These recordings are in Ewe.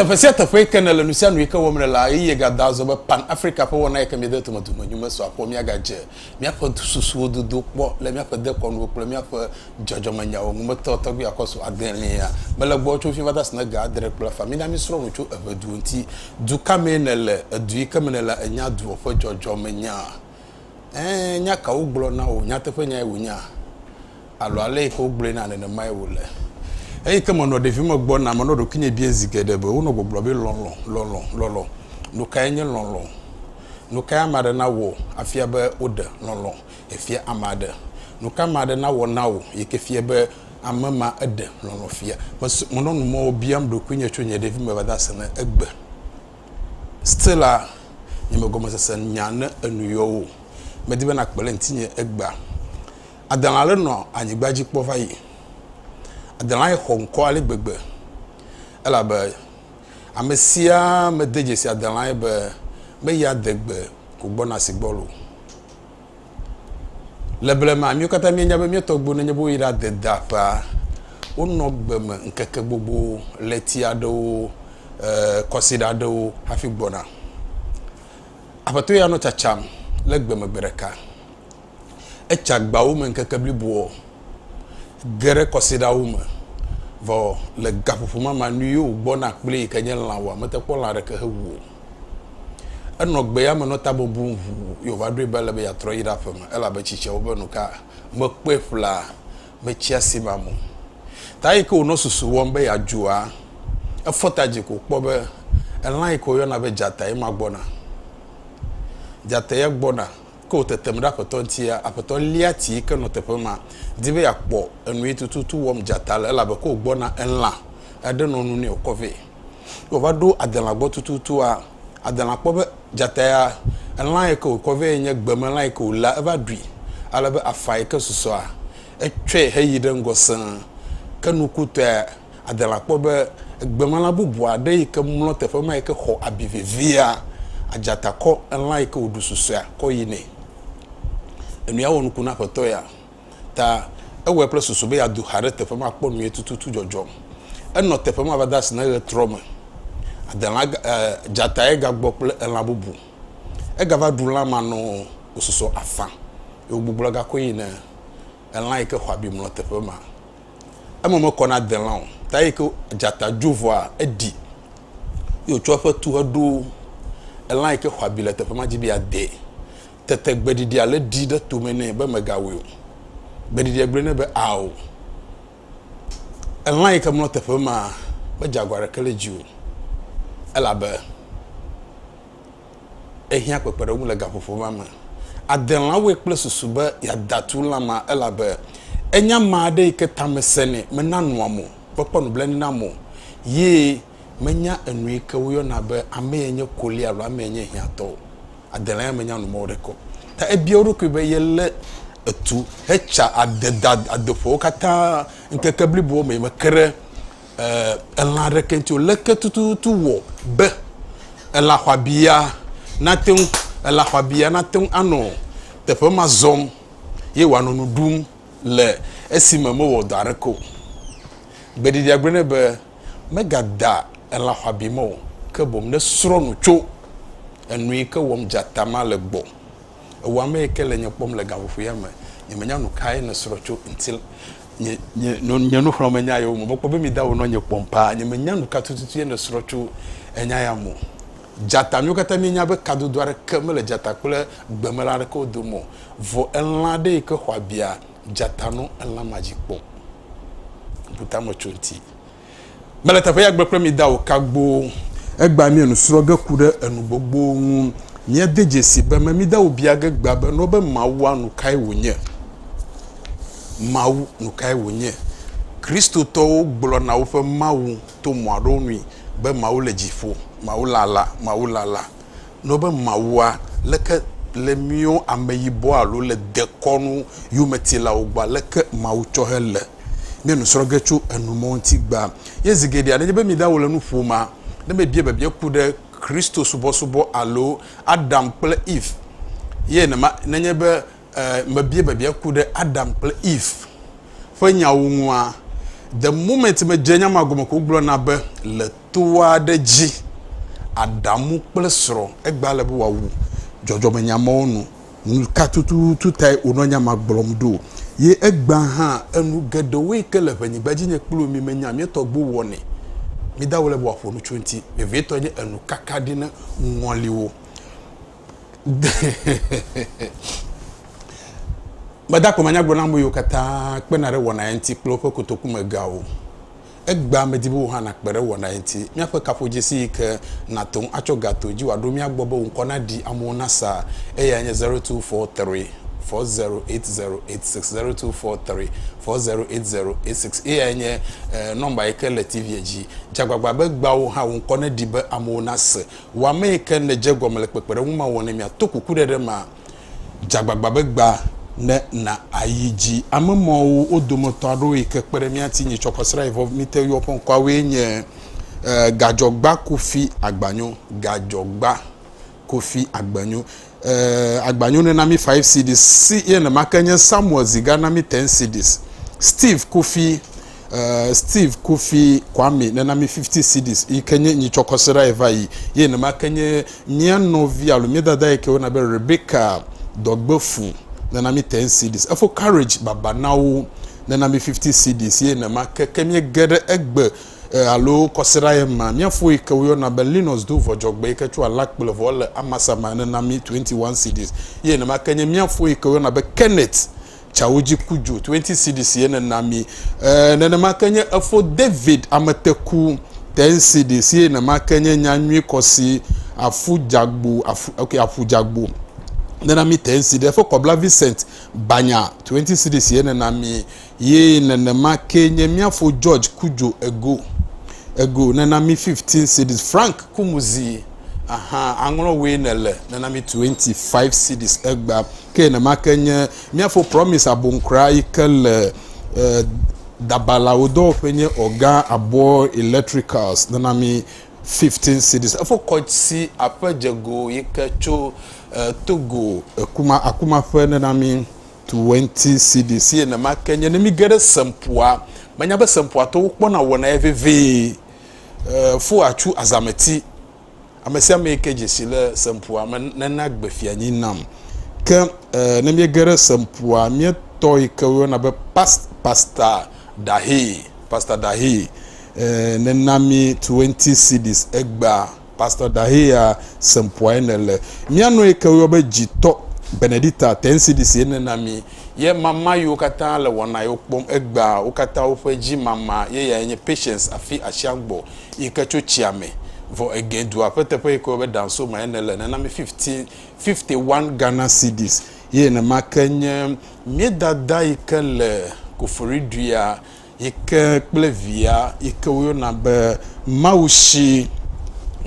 teƒe sia teƒe ke ne le nu sia nu yike wɔm le la eye gada azɔ be pan africa ƒe wɔna yike mi de tome dume nyu me so akpɔ mia ga dze mia ƒe susuwo dodo kpɔ le mia ƒe dekɔnuwo kple mia ƒe dzɔdzɔme nyawo ŋu metɔ tɔgbi akɔ so adelia mele gbɔ tso fi va da sine ga adre kple fa mi na mi srɔ nu tso eʋe duwo ŋuti du ka me ne le edu yike me ne la enya duwo ƒe dzɔdzɔme nya Ẽ, nya ka wogblɔ na wò? Nyateƒenyae wònya alo ale yi ke wogblɔe na nenemae wòle? Eyi ke menɔ ɖevime gbɔna, menɔ ɖokuinye biae zi geɖe be wonɔ gbɔgblɔ be lɔlɔ̃, lɔlɔ̃, lɔlɔ̃. Nu kae nye lɔlɔ̃? Nu kae ame aɖe nawɔ afia be woɖe lɔlɔ̃ efia ame aɖe? Nu ka ame aɖe nawɔ na wò yi ke fia be ame ma eɖe lɔlɔ̃ fia? Menɔ nu mɔ biam ɖokuinye tso nye ɖevime va de ase ɖe egbe. Stella, nye me gɔmesese nya ne enu yɔ wò. Medi be nàkpe ɖe ŋutinye egbea. Adela aɖe nɔ anyigba dzi kpɔ va yi. Adela xɔ ŋkɔ ale gbegbe elabe ame sia mede dzesi Adela be meyi adegbe ko gbɔna si gbɔ o. Le blema, míwo katã míenya be mía tɔgbuiwo nenye be woyi ɖade da ƒea, wonɔ gbe me ŋkeke gbogbo, ɣleti aɖewo, e, kɔsiɖa aɖewo hafi gbɔna. Aƒetɔ ya nɔ tsatsam le gbe me gbe ɖeka. Etsa agbawo me ŋkeke bliboɔ, ge ɖe kɔsiɖawo me. Vɔ le gaƒoƒo mamanui yewo gbɔna kpli yi ke nye lã o, mete kpɔ lã ɖeke hewu o. Enɔ gbe ya me nɔ ta bɔbɔm ŋu ye wòva ɖoe be ele be yeatrɔ ayi ɖe aƒe me, elabe tsi tsea wo be nu ka mekpɔe ƒlaa metsia si mam o. Ta yi ke wònɔ susu wɔm be yeadzua, efɔ ta dzi ko wòkpɔ be elã yi ke woyɔna be dzata ye ma gbɔna. Dzata ya gbɔna, ke wòtetem ɖe aƒetɔ ŋutia, aƒetɔ lia ti yi ke nɔ teƒe ma, di be yeakpɔ enu yi tututu wɔm dzata le, elabe ke wògbɔna, elã aɖe nɔ nu nɛ wòkɔ vɛ. Ne wòva ɖo adelã gbɔ tututua, adelã kpɔ be dzata ya, elã yi ke wòkɔ vɛ nye gbemelã yi ke wòléa, eva ɖui. Ale be afã yi ke susɔa, etsɔe heyi ɖe ŋgɔ sẽe. Ke nukutɔe, adelã kpɔ be gbemelã bubu aɖe yi ke mlɔ teƒe ma yi ke xɔ abi vevia, adzata kɔ elã yi ke wòɖu susɔea kɔ yi nɛ. Enua wɔ nuku na aƒetɔ ya. ta ewɔe kple susu be yeado xa ɖe teƒe ma kpɔ nue tututu dzɔdzɔm. Enɔ teƒe ma va de asi ne ɣe trɔ me. Adelã, e, dzatae gagbɔ kple elã bubu. Egava ɖu lã ma nɔ wòsusɔ afã, eye wògbugbɔ gakɔe yi ne elã yi ke xɔ abi mlɔ teƒe ma. Eme mekɔ na adelã o, ta eyi ke dzata dzo vɔa, eɖi, eye wòtsɔ eƒe tu heɖo elã yi ke xɔ abi le teƒe ma dzi be yeadee. Tete gbeɖiɖia le ɖi ɖe tome nɛ be megawɔe o. Gbeɖiɖia gblɔe nɛ be, Ao, elã yi ke mlɔ teƒe ma medze agɔ aɖeke ɖe edzi o, elabe ehiã kpekpeɖeŋu le gaƒoƒo ma me. Adelãwoe kple susu be yeada tu lã ma, elabe enye ame aɖe yi ke tame sẽnɛ, mena nua mo, mekpɔ nublanui na ame o, ye Menya enui ke woyɔna be amee nye koli alo amee nye hiãtɔ o. Adelã ya menya nu mɔwo ɖe kɔ. Ta ebia eɖokui be yelé etu hetsa ade da adeƒewo katã ŋkeke blibowo me. Meke ɖe elã aɖeke ŋuti o. Leke tututu wɔ be elã xɔabi ya nate ŋu, elã xɔabi ya nate ŋu anɔ teƒe ma zɔm ye wòanɔ nu ɖum le esime mewɔ dɔ aɖeke o? Gbeɖiɖia gblɔe nɛ be, Megadea elã xɔabi me o, ke boŋ ne srɔ̃ nu tso enu yi ke wɔm dzata ma le gbɔ. Ewɔ ame yi ke le nye kpɔm le gaƒoƒo ya me. Nyemenya nu kae nèsrɔ̃ tso ŋuti le. Nye, nye, nye nuxlɔ̃ame nya yewo me. Mekpɔ be mi dawo nɔ nye kpɔm paa. Nyemenya nu ka tututu ye nèsrɔ̃ tso enya ya me o. Dzata, míwo katã míenya be kadodo aɖeke mele dzata kple gbemelã aɖekewo dome o. Vɔ elã aɖe yi ke xɔ abia. Dzata nɔ elã ma dzi kpɔm. Ŋku tame tso ŋti. Mele teƒe ya gbe kple mi da o kagboo. Egbea mie nu srɔ ge ku ɖe enu gbogbo ŋu. Mie de dzesi be me mi da o bia ge gbea be nɔ be Mawua nu kae wo nye. Mawu nu kae wo nye. Kristo tɔwo gblɔ na woƒe Mawu to mɔa ɖewo nui be Mawu le dzi ƒo. Mawu lala, Mawu lala. Ne wobe Mawua, leke le míwo ameyibɔ alo le dekɔnu yometilawo gbɔa, leke Mawu tsɔ hele mía nu srɔ̃ ge tso enumɔwo ŋuti gbea? Ye zi geɖea, nenye be mída wole nu ƒomea, ne mebia biabia ku ɖe Kristosubɔsubɔ alo Adam kple Eve ye nenema, nenye be mebia biabia ku ɖe Adam kple Eve ƒe nyawo ŋua? The moment medze nya ma gɔme ko gblɔna be le to aɖe dzi, Adamu kple srɔ̃ egba le be wòawu dzɔdzɔmenyamɔwo nu. Nu ka tututu tae wònɔ nya ma gblɔm ɖo? Ye egbã hã enu geɖewo yi ke le ʋenyigba dzi nye kplu mi menya mía tɔgbuiwo wɔnɛ. Mida wo le be wòaƒo nu tso eŋuti. Vevietɔ nye enu kaka ɖi na ŋɔliwo. Gbadagbe manyagblɔɖila ameyio katã kpena ɖe wɔna ya ŋuti kple woƒe kotokumegawo. Egbea medi be wò hã nàkpe ɖe wɔna ya ŋuti. Míaƒe kaƒodzesi yi ke nàte ŋu atsɔ ga to dzi wòaɖo mía gbɔ be wò ŋkɔ naɖi amewo nasa eyae nye zero two four three four zero eight zero eight six, zero two four three four zero eight zero eight six. Eyae nye nɔmba yi ke le TV-a dzi. Dze agbagba be egbea wò hã wò ŋkɔ naɖi be amewo nase. Wɔ amee ke nèdze egɔme le kpekpeɖeŋu ma wɔnɛ mia to kukuɖeɖe ma. Dze agbagba be gbã ne na ayi dzi. Ame mawo wo dometɔ aɖewo yi ke kpe ɖe mía ŋuti nyitsɔ kɔ srã yi vɔ mí te yɔ ƒe ŋkɔawoe nye, Gadzɔgba Kofi Agbanyo, Gadzɔgba Kofi Agbanyo. Eh, agba nyo ne na mi five CDs. Si ye ne make nye Samuel Ziga na mi ten CDs. Steve Kofi, eh, Steve Kofi Kwame ne na mi fifty CDs. Yi ke nye nyi tsɔkɔ se ɖa ye va yi. Ye ne make nye mia nɔvi alo mia dada yi ke wona be Rebecca Dɔgbefu ne na mi ten CDs. Efo Courage Babanawo ne na mi fifty CDs. Ye ne make ke mie ge ɖe egbe e, alo kɔsiɖa ye ma. Mía fo yi ke woyɔna be Linus do vɔ dzɔgbe yi ke tso alakple vɔ le amasa ma ene na mí 21 cedis. Ye nenema ke nye mía fo yi ke woyɔna be Kenneth tsawo dzi ku dzo 20 cedis ye nena mí. E, nenema ke nye efo David ameteku 10 cedis ye nenema ke nye nyanyui kɔsi afu dzagbo afu ok afu dzagbo nena mí 10 cedis. Efe kɔbla Vincent banya 20 cedis ye nena mí. Ye nenema kee nye mía fo George Kudjo Ego, Ego, nena mi 15 cedis, Frank Kumuzi, aha, aŋlɔ woe nèle, nena mi 25 cedis, Egba, ke nenema ke nye mía fo Promise Abonkra yi ke le eh, Dabalawo dɔwɔƒe nye ɔga Abo Electricals, nena mi 15 cedis, efo Kɔtsi Aƒe Dzego yi ke tso eh, Togo, Akuma, Akuma ƒe, nena mi. 20 cedi si enema ke nye ne mige ɖe sempua menya be sempua tɔwo kpɔna wɔna ye vevie eh, fo atsu azameti ame sia ame ke dzesi le sempua me nena gbe fianyi nam ke eh, ne miege ɖe sempua mietɔ yi ke woyɔna be past, pasta dahe pasta dahe eh, nena mi 20 cds egbea Pastor Dahlia Sempoae ne le. Mía nɔe ke woyɔ be dzitɔ Benedicta Tensidis ene na mí. Ye mama yiwo katã le wɔna yewo kpɔm egbea wo katã woƒe dzi mama ye yae nye Patience afi Ashiagbɔ yi ke tso tsia me vɔ egɛ dua ƒe teƒe yi ke woyɔ be Dansoma ene le ne na mí 15 51 Ghana Cedis ye nenema ke nye mía dada yi ke le Koforiduia Yi ke kple via yi ke woyɔna be Mawu si.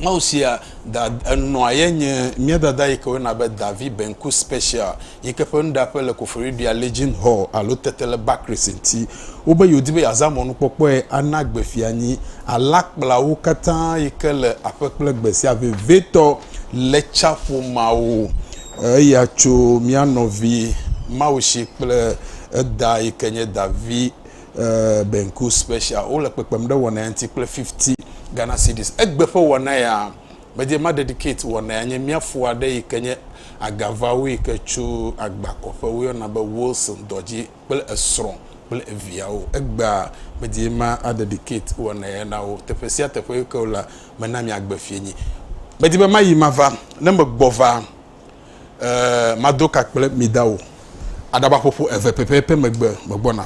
Mawu sia da enɔa ye nye mía dada yi ke woyɔna be Davi Benku Special yi ke ƒe nuɖaƒe le Koforidua Legion Hall alo tete le Bakris ŋuti. Wobe yewodi be yeazã mɔnukpɔkpɔe ana gbe fianyi alakplawo katã yi ke le aƒe kple gbe sia vevitɔ le tsaƒomawo. Eya tso mía nɔvi Mawu si kple. Eda yi ke nye Davi Benku Special wo le kpekpem ɖe wɔna ya ŋuti kple 50 Ghana Cedis. Egbe ƒe wɔna ya medie ma dedicate wɔna ya nye mía fo aɖe yi ke nye agavawu yi ke tso agbakɔƒe wo yɔna be Wilson dɔ dzi kple esrɔ̃ kple eviawo. Egbea medie ma a dedicate wɔna ya na wo. Teƒe sia teƒe yi ke wo lea mena mia gbe fiẽ nyi. Medi be mayi mava. Ne me gbɔ va. Ee, mado ka kple mi da o. Aɖabaƒoƒo eve pɛpɛpɛ megbe megbɔna.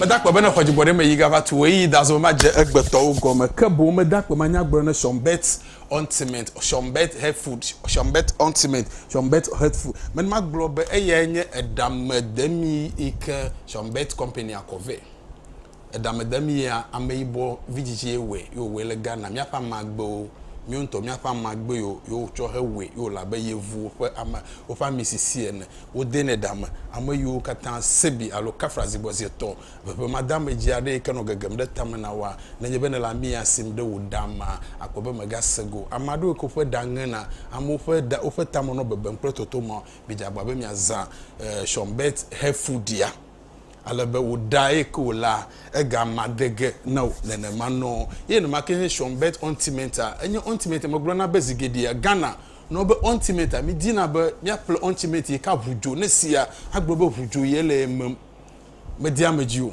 Meda akpe bene xɔ dzigbɔ ɖe me yi gava tu weyi dazɔ ma dze egbe tɔwo gɔme ke boŋ meda akpe ma nya gblɔ ne Shonbet Ontiment Shonbet Headfood Shonbet Ontiment Shonbet Headfood men ma gblɔ be eyae nye eɖa me demi yi ke Shonbet Company a kɔ vɛ. Edamedem yea ameyibɔ vidzidzie wɔe ye wòwɔe le Ghana. Míaƒe ame agbewo, míwo ŋutɔ míaƒe ame agbe yewo yewo tsɔ he wɔe ye wòle abe yevuwo ƒe ame woƒe ami sisi ene. Wodenɛ ɖa me. Ame yiwo katã Sebi alo Kafra zigbɔzie tɔ ʋeʋemadeamedzi aɖe yi ke nɔ gegem ɖe tame na woa, nenye be nèle ami ya sim ɖe wò ɖa mea, àkpɔ be mègase go o. Ame aɖewo yi ke woƒe ɖa ŋena, amewo ƒe ɖa, woƒe tame nɔ bebem kple totomawo. Midze agbagba be miazã Shonbet Hefudia. ale be wò ɖa ye ke wòlea, ega ma de ge na wò nenema nɔ. Ye nenema ke nye Sean Bett Ɔntimenta. Enye Ɔntimenta me gblɔ na be zi geɖea Ghana nɔ be Ɔntimenta mi dina be mia ƒle Ɔntimenta yi ke aʋu dzo ne sia agblɔ be ʋu dzo ye le eme me de ame dzi o.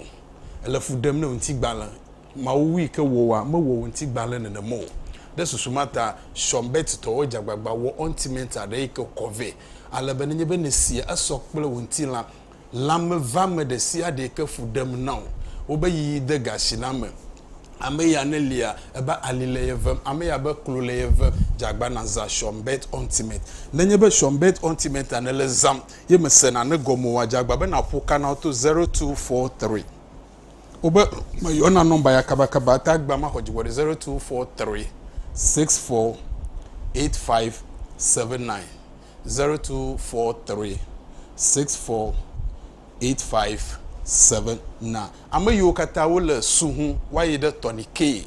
Ele fu ɖem ne wò ŋuti gbalẽ. Mawu wu yi ke wò wa me wɔ wò ŋuti gbalẽ nenema o. Ɖe susu ma ta Sean Bett tɔwo dze agbagba wɔ Ɔntimenta ɖe yi ke kɔ vɛ ale be nenye be ne sia esɔ kple wò ŋuti la lãme vame ɖe sia ɖee ke fu ɖem na wò. Wobe yi de ga si la me. Ame ya ne lia, ebe ali le ye vem, ame ya be klo le ye vem, dze agbana zã Schumbet Ointment. Nenye be Schumbet Ointment-a nèle zãm ye mèsena ne gɔme oa, dze agba be nàƒo ka na wo to zero two four three. Wobe meyɔna nɔmba ya kabakaba ta agbea maxɔ dziwɔ ɖe zero two four three six four eight five seven nine. Zero two four three six four eight five seven nine. Ame yiwo katã wole su ŋu woayi ɖe Tɔnike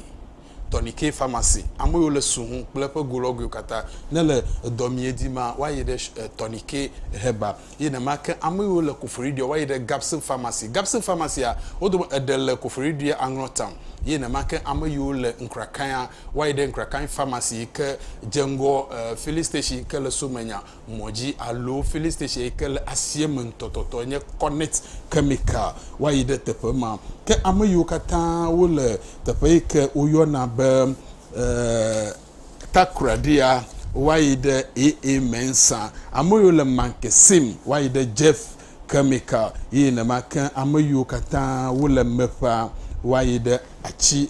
Tɔnike famasi. Ame yiwo le su ŋu kple eƒe golɔgoewo katã ne le edɔ mie di ma woayi ɖe Tɔnike heba. Ye nema ke ame yiwo le Koforidua woayi ɖe Gapson famasi. Gapson famasia wo dome eɖe le Koforidua Aŋlɔtown. Ye nema ke ame yiwo le Nkrakaia Woayi ɖe Nkrakain Pharmacy yi ke dze ŋgɔ Filling Station yi ke le Somenya mɔ dzi alo Filling Station yi ke le asieme ŋutɔtɔtɔ enye Connect Chemical. Woayi ɖe teƒe ma. Ke ame yiwo katã wole teƒe yi ke woyɔna be Takoradiya, woayi ɖe AA Mensa. Ame yiwo le Mankesim, woayi ɖe Jeff Chemical. Ye nenema ke ame yiwo katã wole Meƒa, woayi ɖe Atsi.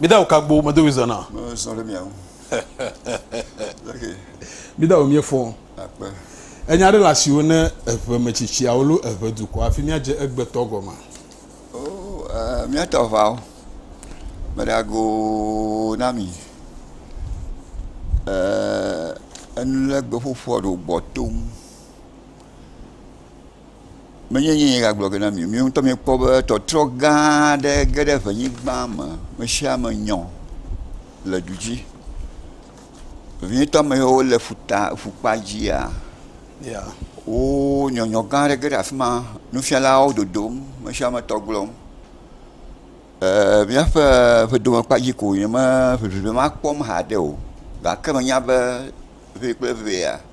Mida o kagbo medo wi zana. Me sɔ ɖe mia ŋu. Mida o mie fɔ. Akpe. Enya ɖe le asiwo ne eʋe metsitsiawo lo eʋe dukɔ afi mia dze egbetɔ gɔma. O oh, eh, mia tɔ ʋa o. Me ɖe ago na mi. Eh, enu le gbe ƒoƒo aɖo gbɔ tom. Menye nye ye gagblɔ ge na mi, mi ŋutɔ mikpɔ be tɔtrɔ gã aɖe ge ɖe ʋenyigba me. Mesiame nyɔ le du dzi. Vevietɔ ame yiwo le ƒuta, ƒukpa dzia, yeah. wo nyɔnyɔ gã aɖe ge ɖe afi ma. Nufialawo dodom, mesiame tɔ glɔm. Ee, míaƒe ƒedomekpa dzi ko wònye, me ʋeʋiʋe ma kpɔm haɖe o gake menya be ʋee kple ʋea,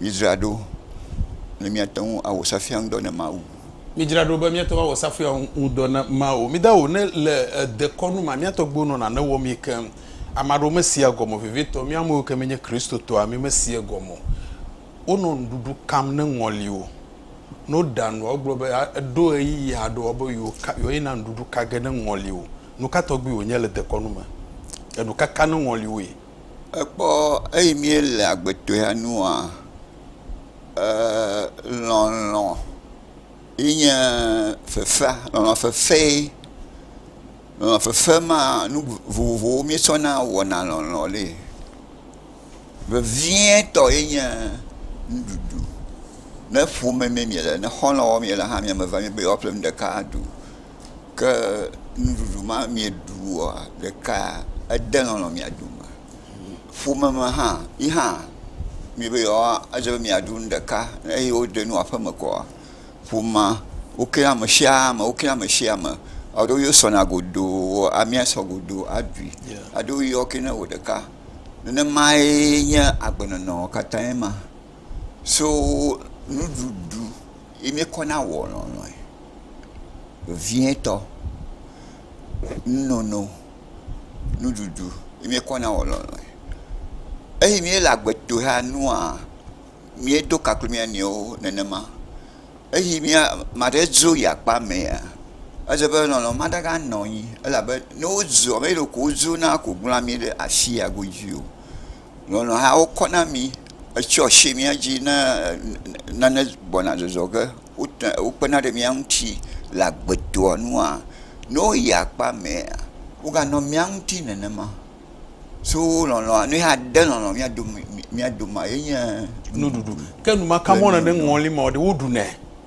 Midzra ɖo ne miate ŋu awɔ safia ŋudɔ na Mawu. Midzra ɖo be miate ŋu awɔ safia ŋudɔ na Mawu. Mida wò ne le dekɔnu ma. Mía tɔgbuiwo nɔ nane wɔmee keŋ. Ame aɖewo mesea egɔme o. Vevitɔ, mía amewo ke míenye Kristotɔa, mímesea egɔme o. Wonɔ nuɖuɖu kam ne ŋɔli o. Ne woɖa nua, wogblɔ be eɖo ɣeyiɣi aɖe o be yewoayina nuɖuɖu ka ge ne ŋɔli o. Nuka tɔgbi wònye le dekɔnu me? Enu ka ka ne ŋɔli woe? Ekpɔ eyi mí le agbetɔa nua ee lɔlɔ ye nye fefea. Lɔlɔ fefe. Lɔlɔ fefe ma nu vovovowo mí tsɔ na wɔna lɔlɔ le. Vevie tɔ ye nye nuɖuɖu. Ne ƒome me mí le ne xɔlɔ wɔm mí le hã mía me va be yewoa ƒle nu ɖeka aɖu. ke nuɖuɖu ma mieɖu oa, ɖeka ede lɔlɔ̃ mia dome. Ƒome me hã yi hã medi be yewoa edze be miaɖu nu ɖeka ne eyi woɖe nu aƒe me koa, ƒomea wokea ame sia ame wokea ame sia ame. Alo wo sɔna godoo amia sɔ godoo aɖui alo wo yɔ ke ne wò ɖeka. Nenemae nye agbenɔnɔ katã ma. So nuɖuɖu ye miekɔ na wɔ lɔlɔ̃e. vevietɔ, nunono, nuɖuɖu ye míekɔ na wò lɔlɔ̃e. Eyi míele agbe dom ɖa nua, míedo ka kple mía nɔewo nenema. Eyi mía, ame aɖe dzo yi akpa mɛa, edze be lɔlɔ̃ ma ɖe ganɔ anyi elabe ne wodzo, ame ɖeko wodzo na ko gblɔa mí ɖe afi ya godzi o. Nɔnɔ hã wokɔ na mi etsɔ si mía dzi ne nane gbɔna zɔzɔ ge wota wokpena ɖe mía ŋuti le agbedoa nua ne woyi akpa mɛa woganɔ mía ŋuti nenema. So lɔlɔ̃a ne ade lɔlɔ̃ mía dome mía domea ye nye nuɖuɖu. Ke enumaka mɔ nane ŋɔli ma ɖe woɖunɛ.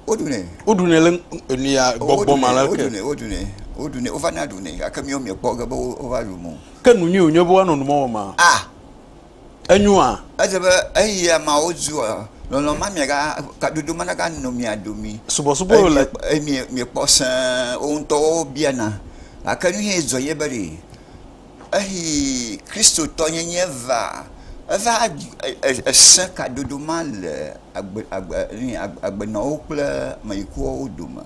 Woɖunɛ. Woɖunɛ le enuya gbɔgbɔ ma la ke. Woɖunɛ woɖunɛ woɖunɛ wovana ɖunɛ gake míwo míekpɔ ge be wova ɖu mɔ. Ke nu nyui wònye be woanɔ nu ma wɔm a? A. Enyo a? Edze be eyi ameawo zu a? Lɔlɔ̃ ma mia ga, kadodo ma naga nɔ mia domi. Subɔsubɔ eye le. Eye mi, miekpɔ sẽ wo ŋutɔwo biana. Gake nu ye dzɔ ye be ɖe eyi Kristotɔ nyenye va, eva esẽ kadodo ma le agbe, agbe, agbe, agbenɔwo kple ameyikuwo dome.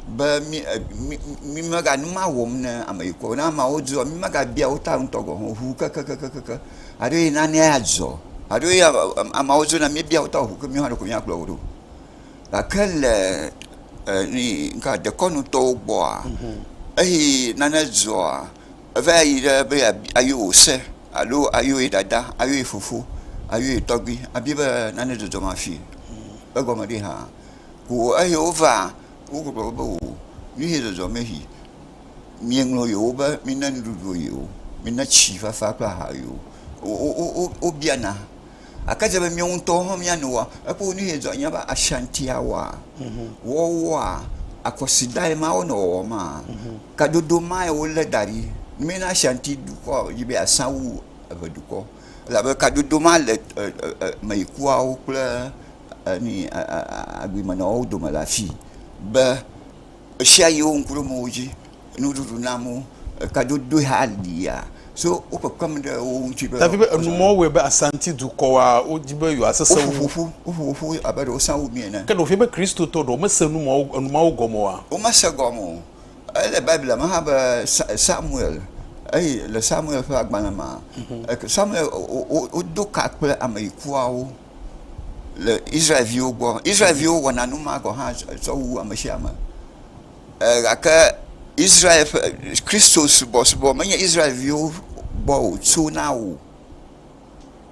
be mí e mí mí mega nu ma wɔm ne ame yi ko ne ameawo dzɔ mí megabia wo ta ŋutɔ gɔ̃ hã o ŋu kekekekekekeŋ haɖe yi nanee adzɔ haɖe yi ameawo dzɔ ne míebia wo ta o ŋu ke míawo ɖeko míakplɔ wo ɖo. Gake le e nui ŋka dekɔnutɔwo gbɔa eyi nane dzɔa eva yi ɖe be yeabi ayɔ wò se alo ayɔ ye dada ayɔ ye fofo ayɔ ye tɔgbui abia be nane dzɔdzɔm afii egɔme ɖi hã. Ŋu eye wova wogblɔ be o nuye zɔzɔme yi mieŋlɔ yewo be mina nuɖuɖu yewo mina tsi fafa kple aha yewo wobiana gake edze be míawo ŋutɔwo hã míano wa ekpɔ be nuye zɔ míabe Ashantia wa wɔwoa akɔsidae ma wonɔ wɔwɔ ma kadodo mae wole da ɖi mina Ashanti dukɔ dzi be yeasa wu eʋe dukɔ elabe kadodo ma le e e e meyikuawo kple enu yi a a agbemenɔwo dome le afii be ɣesiaɣi wo ŋku ɖom wo dzi, nuɖuɖu nam wo, kadodoe hã lia. So wo kpekpem ɖe wo ŋuti be. Davi be enumɔwo wɔe be Asanti dukɔa wodi be yewoasesẽ wu. Woƒo ƒoƒu, woƒo ƒoƒu abe ɖe wosã wu mi ene. Ke ɖewoƒe be Kristotɔ ɖewo mese enumɔwo enumɔwo gɔme oa? Womese gɔme o. Ele Biblia me hã be Sa Samuel eye le Samuel ƒe agbalẽ mea, Samuel wo wo wodo ka kple ameyikuawo. le Israel-viwo gbɔ. Israel-viwo wɔna nu ma gɔ̃ hã tsɔ wu ame sia ame ɛɛ gake Israel ƒe Kristosubɔsubɔ menye Israel-viwo gbɔ wòtsona o.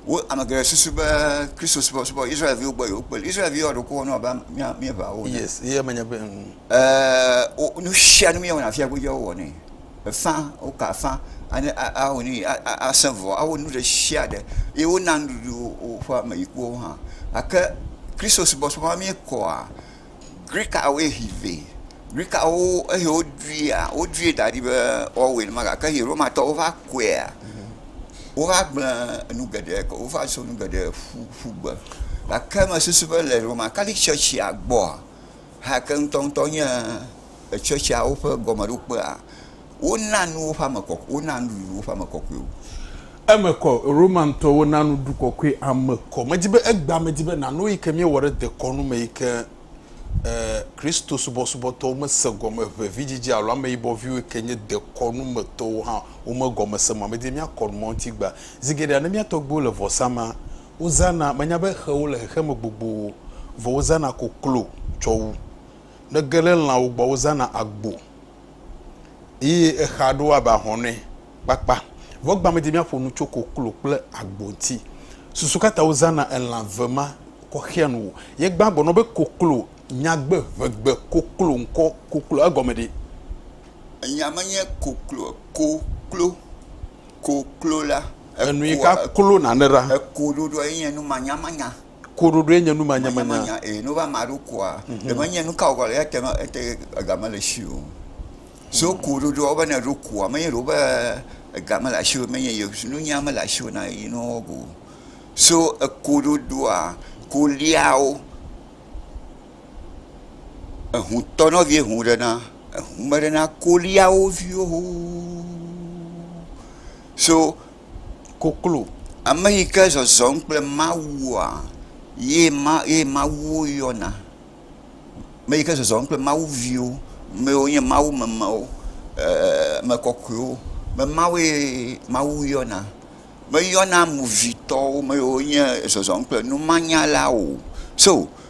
Wo ame geɖe susu be Kristosubɔsubɔ Israel-viwo gbɔ yewokpe le. Israel-viwo ɖeko wɔna abe am mía míeŋawo ene. Yes, ye menye be ŋ. Ɛɛ wo nu sia nu míewɔna fiae godzi wowɔnɛ. Efã, woka afã anye a a awɔ nu yi a a asẽ vɔ. Awɔ nu ɖe sia ɖe ye wona nuɖuɖu wo woƒe ameyikuwo hã. Gake Kristosubɔsubɔ ma míekɔa, Grikawoe hĩ vɛ. Grikawo eyi woɖuia, woɖui da ɖi be woawɔe nenema gake eyi Romatɔwo va kɔea, wova gblẽ nu geɖe kɔ, wova so nu geɖe ƒu ƒu gbe. Gake mesusu be le Romakatitsi tsɔtsia gbɔa, Hake ŋutɔŋutɔ nye etsɔtsiawo ƒe gɔmeɖokpea, wona nu woƒe ame kɔkɔe, wona nuɖuɖu woƒe ame kɔkɔewo. Eme kɔ, Romantɔwo na nuɖuɖu kɔkɔe ame kɔ. Medi be egbea medi be nànu eyi ke míewɔ ɖe dekɔnu me yi ke Kristosubɔsubɔtɔwo mese gɔme ŋɛ, vidzidzi alo ameyibɔ viwo yi ke nye dekɔnu me tɔwo hã womegɔmese mɔ medi be míakɔ nu mɔ ŋuti egbea. Zi geɖea ne mía tɔgbuiwo le vɔsama Wozãna, menya be xewo le xexeme gbogbo o, vɔ wozãna koklo tsɔ wu. Ne ge ɖe lãwo gbɔa, wozãna agbo eye exa ɖo abe ahɔnɛ kpakpa. Vɔ egbea medi míaƒo nu tso koklo kple agbo ŋuti. Susu ka ta wozãna elã ve ma kɔxea nu o? Ye gbã gblɔ na wo be koklo, nyagbe, ʋegbe, koklo, ŋkɔ, koklo, egɔme ɖee? Enyia menye koklo, ko, klo. ko klo la. Enui ka klo nane ɖa? Ekoɖoɖoa ye nye numanyamanya. Koɖoɖoe nye nu manyamanya. Manyamanya ee ne wova ma ɖo koa ɖe me nye nu ka wògale eya te me ete ega mele esi o. So koɖoɖoa wo be ne eɖo koa menye ɖe wo be ega mele asiwò menye ye si nunya mele asiwò na yi ne woawɔ go o. So ekoɖoɖoa koliawo. eŋu tɔ ne vie ŋu ɖe na eŋu me ɖe na kolia wo viwo xoxoxo so koklo ame yi ke zɔzɔm kple Mawua ye ma ye Mawuwo yɔna. Ame yi ke zɔzɔm kple Mawu viwo ame yiwo nye Mawu memewo e ame kɔkɔewo ame mawoe Mawu yɔna. Meyɔna movitɔwo ame yiwo nye zɔzɔm kple numanyalawo o so.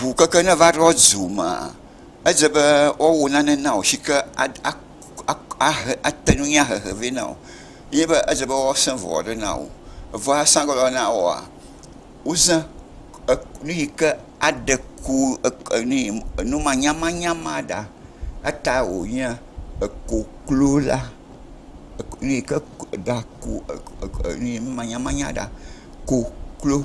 ŋu keke ne va ɖo du mea, edze be woawɔ nane na wò si ke ate ŋu anya hehe vɛ na wò ye be edze be woasẽ ŋua ɖe na wò. Eŋua sẽ ge ɖe na wòa, wozã nu yi ke aɖe ku nu manyamanya ma ɖa. Etae wònye ekoklo la, nu yi ke ɖa ku nu manyamanya ɖa. Koklo.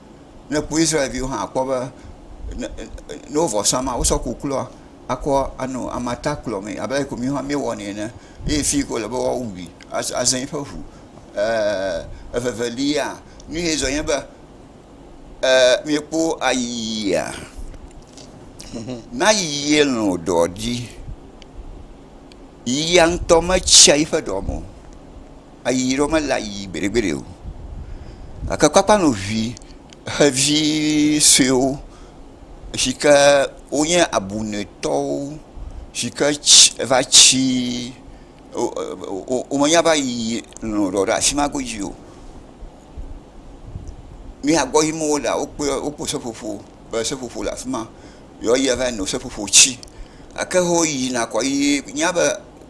Ne ekpɔ Israelviwo hã akpɔ be ne ne wo vɔ sam wosɔ koklua akɔ anɔ amata kplɔ mee abe ale si mi hã miewɔ nɛ ene eye fi yi ke wole be woa wui azã eƒe ŋu. E evevelia nu ye zɔ nye be e miekpɔ ayiyia ne ayiyia lɔ ɖɔ dzi yiyia ŋutɔ me tsia eƒe ɖɔ me o. ayiyi ɖewo mele ayiyi gbeɖegbeɖe o gake kɔ akpɔ nɔ ŋi xevi suewo si ke wonye abunɛtɔwo si ke tsi va tsi wo menya be ayiyi nɔ ɖewo ɖe afi ma godzi o. Nu ya gbɔ yim wo lea wokpe wokpɔ seƒoƒo be seƒoƒo le afi ma ye woyi va yi nɔ seƒoƒo tsi gake wo yina kɔ ye wonya be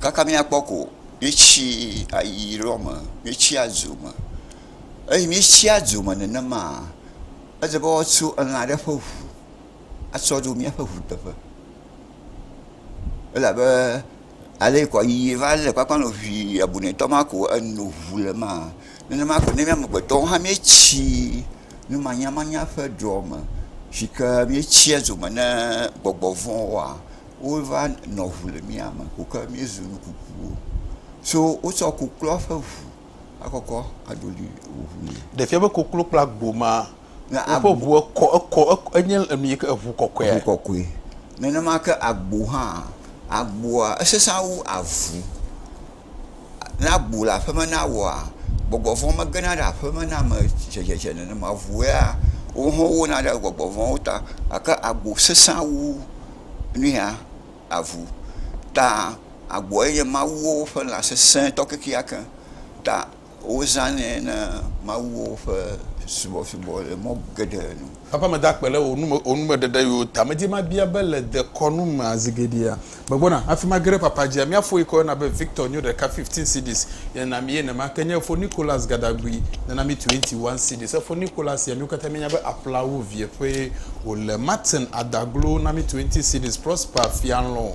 kaka míakpɔ ko míetsi ayi ɖɔ me, míetsi adzo me. Eye míetsi adzo me nenemaa, ele be woatso elã aɖe ƒe ŋu atsɔ ɖo míaƒe ŋuteƒe. Elabe ale ko yi va le kpakpa nɔ ŋii abunɛtɔ ma ko eno ŋu le emaa, nenema ko ne mía amegbetɔwo hã míetsi numanyamanya ƒe ɖɔ me si ke míetsia dzo me ne gbɔgbɔ vɔ̃ woa. Wova nɔ ŋu le mía me ŋu ke míezu nu kukuwo. So wotsɔ kokloa ƒe ŋu akɔkɔ aɖo ɖi ŋu nɛ. Ɖe fia be koklo kple agbo ma woƒe ŋu ekɔ ekɔ enye enu yi ke eŋu kɔkɔea? Eŋu kɔkɔe. Nenema ke agbo hã. Agboa esesẽa wu avu. ne agbo le aƒeme na woa, gbɔgbɔ vɔ̃ megena ɖe aƒeme na ame tsɛtsɛtsɛ nenema o. Ŋu ya wo hã wowona ɖe gbɔgbɔ vɔ̃wo ta gake agbo sesẽ wu nu ya aŋu ta agboa ye nye mawuwo ƒe lã sesẽtɔ kekeake ta. Wozãnɛ na mawuwo ƒe subɔsubɔ le mɔ geɖe nu. Eƒe ame da kpe ɖe wò numeɖeɖewo ta. Medi mabia be le dekɔnu mea zi geɖea megbɔna afima ge ɖe papa dzia? Mía fo yi ke woyɔna be Victor nyo ɖeka, fifteen cedis, ye nami ye nema ke nye fo Nicholas Gadagui nana mi twenty one cedis. Efo Nicholas sia míwo katã míenya be aƒlawu vie ƒee wòle. Martin Adaglo na mi twenty cedis, Prosper Fialɔ̃,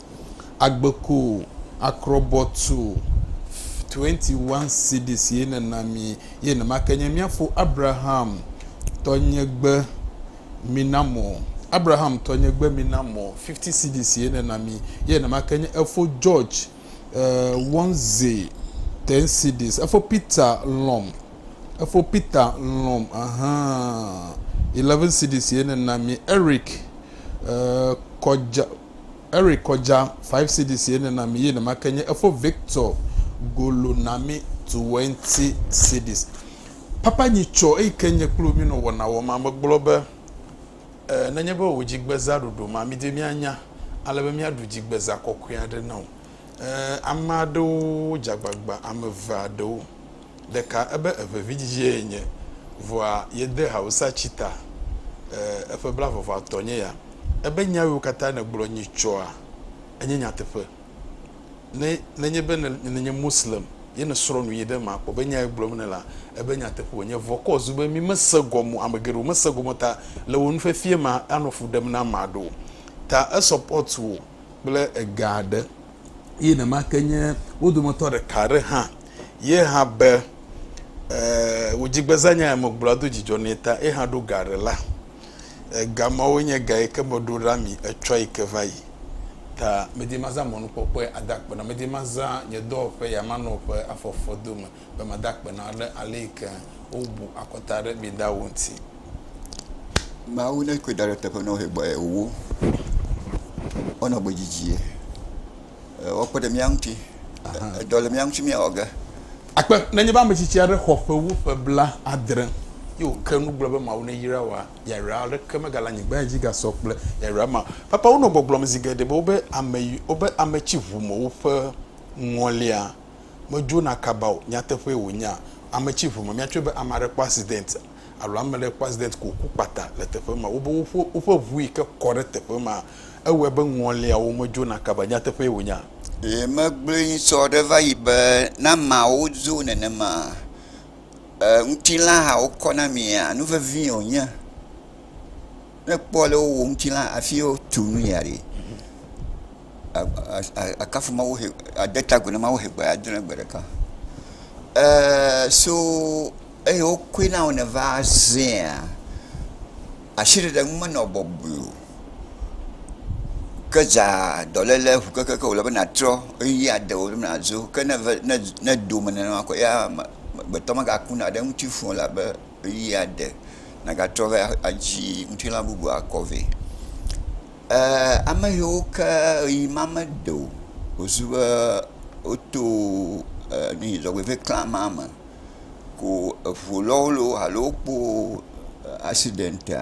Agbe ko akrɔbɔ tu twenty one cities ye nena mi ye nemake nye mia fo Abraham tɔnyegbe mina mɔ Abraham tɔnyegbe mina mɔ fifty cities ye nena mi ye nemake nye efo George uh, Wonze ten cities efo Peter lɔm efo Peter lɔm ahan eleven cities ye nena mi Eric uh, kɔdza Eric kɔdja five cedis ye ne na mi ye nema ke nye efo Victor golo na mi twenty cedis papa nyi tsɔ eyi ke nye kplo mi nɔ wɔna wɔ ma me gblɔ be e ne nye be wo dji gbe za ɖoɖo ma mi de mi anya ale be mi a ɖu dji gbe za kɔkɔe aɖe na wo e ame aɖewo dja gbagba ame eve aɖewo. ɖeka ebe eƒe vidzidzie ye nye, vɔa yede hawusa tsi ta, e, eƒe bla vɔvɔa tɔ nye ya. Ebe nya yiwo katã nègblɔ nyi tsɔa, enye nyateƒe. Ne, nenye be ne, nenye Moslem ye nèsrɔ̃ nu yi ɖe eme akpɔ be nya ye gblɔm nèlea, ebe nyateƒe wònye. Vɔ kɔ zu be mí mese gɔme o, ame geɖewo mese gɔme o, ta le wò nufiafia mea, anɔ fu ɖem na ame aɖewo. Ta esɔpɔt wò kple ega aɖe. eye nenemakeŋ nye wo dometɔ ɖeka aɖe hã ye hã be e wò dzigbeza nya ya megblɔa edo dzidzɔ nɛ ta ye hã ɖo ga aɖe la. Ega mawo nye ga yi ke meɖo ɖa mi etsɔ yi ke va yi ta medi mazã mɔnukpɔkpɔe ada akpe na medi mazã nye dɔwɔƒe ya manɔ ƒe afɔfɔdo me be mada akpe na wo ɖe aleyike wobu akɔta ɖe mi da ŋu ŋuti. Mawu ne koe da ɖe teƒe na wo hegbɔ ye wowo wonɔ gbe didi ye wɔkpe ɖe mía ŋuti edɔ le mía ŋuti mía wɔ ge. Akpe nenye be ame tsitsi aɖe xɔ ƒe wu ƒe bla adre ye wòke nu gblɔ be Mawu ne yra wòa, yayra aɖeke megale anyigba ya dzi gasɔ kple yayra ma. Papawo nɔ gbɔgblɔm zi geɖe be wobe ame yi wobe ame tsi ŋu me woƒe ŋɔlia. Medzona kaba o, nyateƒee wònye a? Ame tsi ŋu me, míatsɔe be ame aɖe kpɔ accident alo ame aɖe kpɔ accident ko wòku kpata le teƒe ma. Wobe woƒe, woƒe ŋu yi ke kɔ ɖe teƒe ma, ewɔe be ŋɔliawo medzona kaba, nyateƒee wònye a? Le megbe ŋusɔ ɖe va yi be ne ameawo dzo nenema a, e, ŋutilã hã wokɔ na mia? Nu vevie wònye. Ne ekpɔ le wowɔ ŋuti la afi yi wotu nu lia ɖi. Akafu Mawu he ade ta agu na Mawu he gbe adre na gbe ɖeka. E so eye wokɔe na wò ne va zẽa, asiɖeɖe ŋu menɔ bɔbɔe o. Ke dza dɔléle ŋu kekeake wòle be nàtrɔ ʋeyiʋi ade wò be nàdzo. Ke ne eve ne ne do me nenema kɔ ya amegbetɔ megaku na ɖe eŋuti fũ o elabe. ɣeyiɣi aɖe nàgatrɔ va adzi ŋutilã bubu akɔ vɛ. Eeee ame yiwo ke ɣeyiɣi ma mede o wozu be woto dzɔgbevɔ̃e kle amea me ko eŋu lɔwo alo wokpɔ aksidɛntia.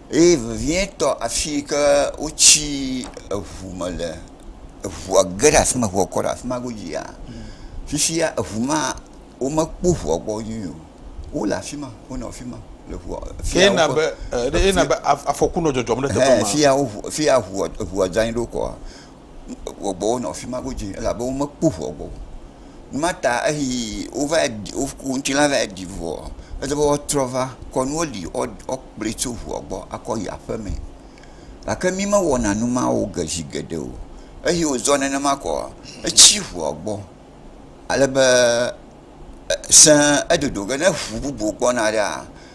Eye vevietɔ afi yi ke wotsi eŋu me le, eŋua ge ɖe afi ma, eŋua kɔ ɖe afi ma godzia, fifia eŋu ma, womekpɔ eŋua gbɔ nyuie o. Wole afi ma, wonɔ afi ma le eŋua, fi ya woƒe, fi ya, ehe, fi ya eŋua dzɔ anyi ɖo kɔa. gbɔgbɔwo nɔ afi ma godzi elabe womekpɔ ŋua gbɔ o. Nu ma ta eyi wova yi ɖi wo ku ŋuti la va yi ɖi ŋua ele be woatrɔ va kɔ nuwo li woakplɔe tso ŋua gbɔ akɔ yi aƒe mee. Gake mi mewɔna nu ma wo ge zi geɖe o. Eyi wozɔ nenema koa etsi ŋua gbɔ ale be e se edodo be ne ŋu bubu gbɔna ɖea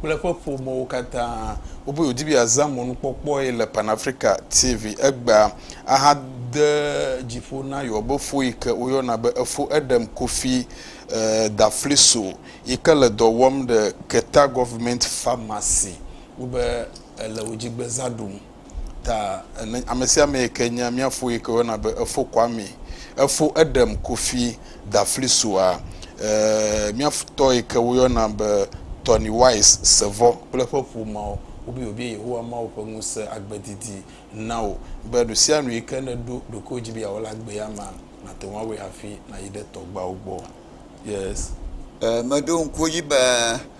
kple eƒe ƒomewo katã. Wobu wòdi be yeazã mɔnukpɔkpɔe le Pan Africa TV egbea ahade dzi ƒo na yewo be fo yi ke woyɔna be Efo Edem Kofi Dafliso yi ke le dɔ wɔm ɖe Keta Government Pharmacy ŋu be ele wo dzi gbezã ɖum. Ta ne amesiame yike nya miafo yike wena be efo kwami efo eɖem kofi daflisua eh, miaftɔ yike woyɔna be tɔni wise sevɔ kple eƒe ƒomao wobi wobie yehowa mawo ƒe ŋuse agbedidi nawo be nusianu yike neɖo ɖokuiwo dzi be yawɔ le agbea ma nate ŋu awɔe hafi nayi ɖe tɔgbawo gbɔ yes eh, meɖo ŋku edzi be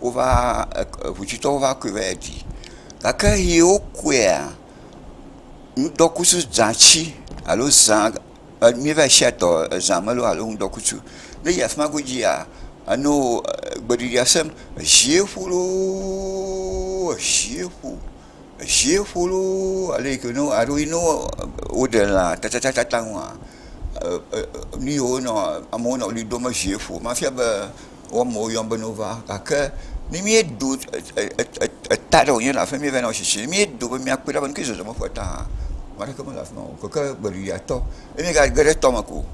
wova hotsuitɔwo va kui va yi ɖi gake ɣi wokuia ŋdɔkutsu dzati alo zã mí va yi sia tɔ zã melo alo ŋdɔkutsu ne eyi afima godzia eno gbeɖiɖi asem zie ƒo loo zie ƒo zie ƒo loo ale yike ne alo yi ne woɖe lã tatataŋua nuyiwo nɔ amewo nɔ ɣli dom zie ƒo hafi ava be wo amewo yɔm be ne wova gake ne míeɖo eta ɖe wònye le afi ma míeva na wo tsitsi ne míeɖo be míakpɔe ɖa be nu kae zɔzɔm eƒe ta hã ame aɖeke mele afi ma o gake gbeɖuɖɔtɔ ye míegage ɖe etɔ me ko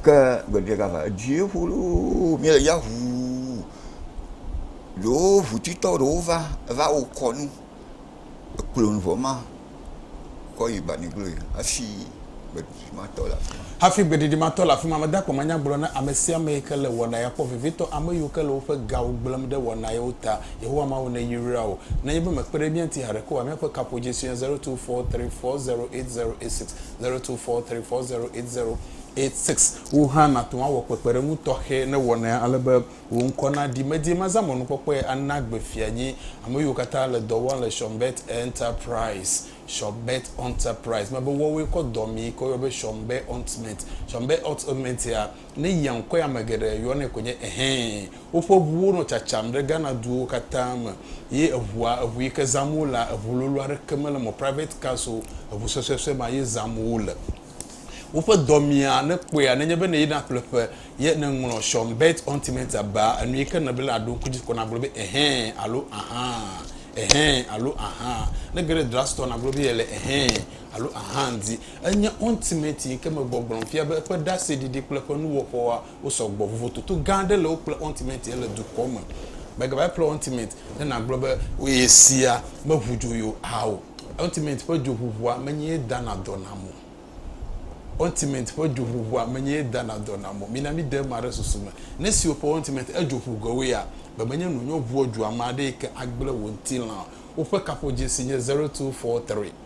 ke gbeɖuɖɔ gava edzi ƒo loo míele ya ʋuu ɖewo ʋutitɔ ɖewo va va wo kɔnu. ekplɔ nu vɔ ma kɔ yi banigloe hafi gbeɖuɖu ma tɔ le afi ma. Hafi gbeɖuɖu ma tɔ le afi ma, mede akpɔ manya gblɔ na ame sia ame yi ke le wɔna ya kpɔ, vevitɔ ame yiwo ke le woƒe gawo gblẽm ɖe wɔna yawo ta. Yehowa Mawu neyra wò. Nenye be mèkpe ɖe mía ŋuti haɖeke oa, míaƒe kaƒodzie sue nye 0243408086, 0243408086. Wò hã nàte ŋu awɔ kpekpeɖeŋu tɔxɛ ne wɔnaya ale be Wò ŋkɔ naɖi. Medi mazã mɔnukpɔkpɔe ana gbe fia nyi ame yiwo katã le dɔ wɔm le Shonbet Enterprise, Shonbet Enterprise. Mebe woawoe kɔ dɔ mi ke woyɔ be Shonbet Entment. Shonbet Entment ya, ne yia ŋkɔe ame geɖe yɔnɛ koe nye ehɛ. Woƒe ŋuwo nɔ tsatsam ɖe Ghana duwo katã me ye eŋua, eŋu yi ke zãm wo lea, eŋu lolo aɖeke mele eme o. Private cars o, eŋu suesuesue ma ye zãm wo le. Woƒe dɔ mia ne kpɔea nenye be nèyi naƒle ƒe ye nèŋlɔ Sean Bert Huntimeter baa enu yi ke nèle be la aɖo ŋku dzi ko nagblɔ be ɛhɛ alo ahã, ɛhɛ alo ahã. Ne ge ɖe drug store nagblɔ be yele ɛhɛ alo ahã di. Enye Huntimeter yi ke me gbɔgblɔm fia be eƒe ɖaseɖiɖi kple eƒe nuwɔƒewoa Wosɔ gbɔ. Vovototo gã aɖe le wo kple Ontimenti ye le dukɔ me. Mègava kple Ontimenti ne nàgblɔ be ye sia meʋu dzo ye oa o. Ontimenti ƒe dzoʋuʋua menye ye dana dɔ nam o. Ontimenti ƒe dzoʋuʋua menye ye dana dɔ nam o. Mina míde ema ɖe susu me. Ne esi wò ƒe Ontimenti edzo ʋu ge woea, be menye nu nyɔ ʋuɔ dzoa ame aɖee ke agblẽ wò ŋutilã o. Woƒe kaƒodzesi nye zero two four three.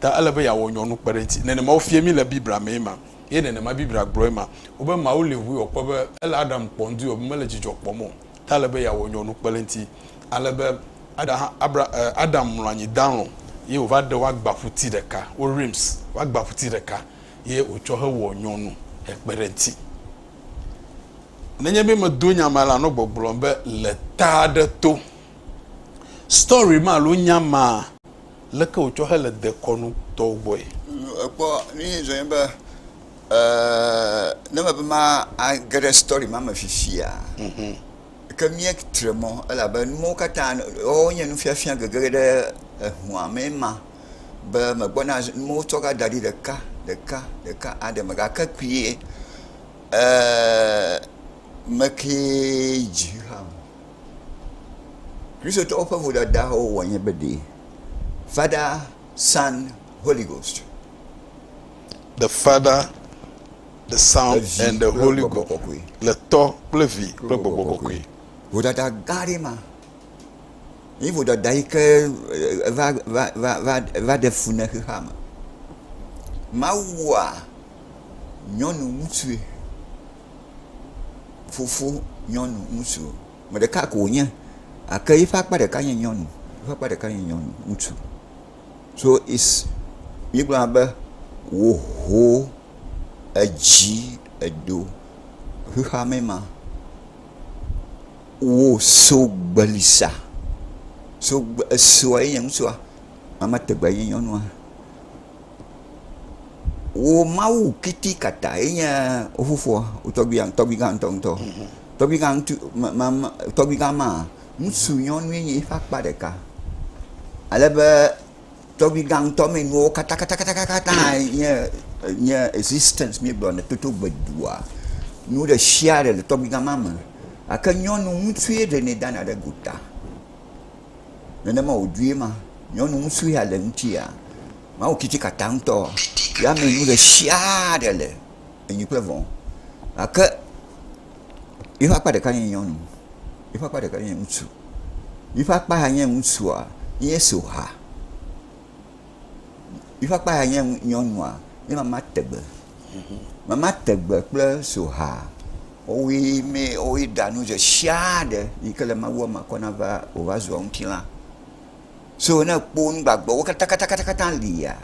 Ta ele be yeawɔ nyɔnu kpe ɖe eŋuti. Nenema wofie mí le Biblia mee ma, eye nenema Biblia gblɔe ma. Wobe Mawu li ŋui wòkpɔ be ele Adam kpɔm due be mele dzidzɔ kpɔm o, ta ele be yeawɔ nyɔnu kpe ɖe eŋuti. Ale be Ada hã, Abra, e, Adam mlɔ anyi dalɔ̃, ye wòva ɖe woagbaƒuti ɖeka, wo rims, woagbaƒuti ɖeka, ye wòtsɔ hewɔ nyɔnu hekpe ɖe eŋuti. Nenye be medo nya ma la, nɔ gbɔgblɔm be le ta aɖe to. Story ma alo nya maa Leke wòtsɔ hele dekɔnu tɔwo gbɔe? Ekpɔ nyuie zɔe be ne mebe mage ɖe story ma me fifia, ke mía tre mɔ elabe numawo katã woawo nye nufiafia gege ɖe ehua mee ma be megbɔna zi numawo tsɔ va daɖi ɖeka ɖeka ɖeka aɖe me gake kpuie mekee dzi hã o. Kristotɔwo ƒe vodadawo wɔ nye be ɖee. Father, Son, Holy Ghost. The Father, the Son, and the Holy Ghost. Le Tɔ kple Vi kple Gbɔgbɔ Kɔkɔe. Vodada gã aɖe ma. Yi vodada yi ke va va va va va ɖe fu ne xexea me. Mawua nyɔnu ŋutsue. fofo nyɔnu ŋutsu. Me ɖeka ko wonye gake yiƒe akpa ɖeka nye nyɔnu. Yiƒe akpa ɖeka nye nyɔnu ŋutsu. So is mígblɔna be woho edzi edo xexeame ma. Wo so gbeli sa. So gbe esoa ye nye ŋutsua. Ame tegbeae nye nyɔnua. Wò Mawu kitikatae nye wò fofoa, wò tɔgbuia, tɔgbugã ŋutɔŋutɔ. Tɔgbugã ŋutu, ma, ma, ma, tɔgbugã ma, ŋutsunyɔnue nye eƒe akpa ɖeka. Ale be tɔgbugã ŋutɔ me nuwo katã, katã, katã, katã, katã nye, nye existence míegblɔ le toto gbedua, nu ɖe sia ɖe le tɔgbugã ma me. Gake nyɔnu ŋutsue ɖenɛ dana ɖe gota. Nenema wòdzoe ma, nyɔnu ŋusu ya le ŋutia, Mawu tsitsikata ŋutɔ ya me nu ɖe sia ɖe le, enyi kple vɔ̃. Gake yiƒe akpa ɖeka nye nyɔnu, yiƒe akpa ɖeka nye ŋutsu. Yiƒe akpa ya nye ŋutsua, Yesu xa. Yiƒe akpa ya nye nyɔnua nye mama tɛgbɛ. Mama tɛgbɛ kple soha wowoe mɛ wowoe ɖa nu ɖe sia ɖe yi ke le Mawua me kɔ nava wova zua ŋutilã. So ne ekpɔ nu gbagbewo katakatakata lia,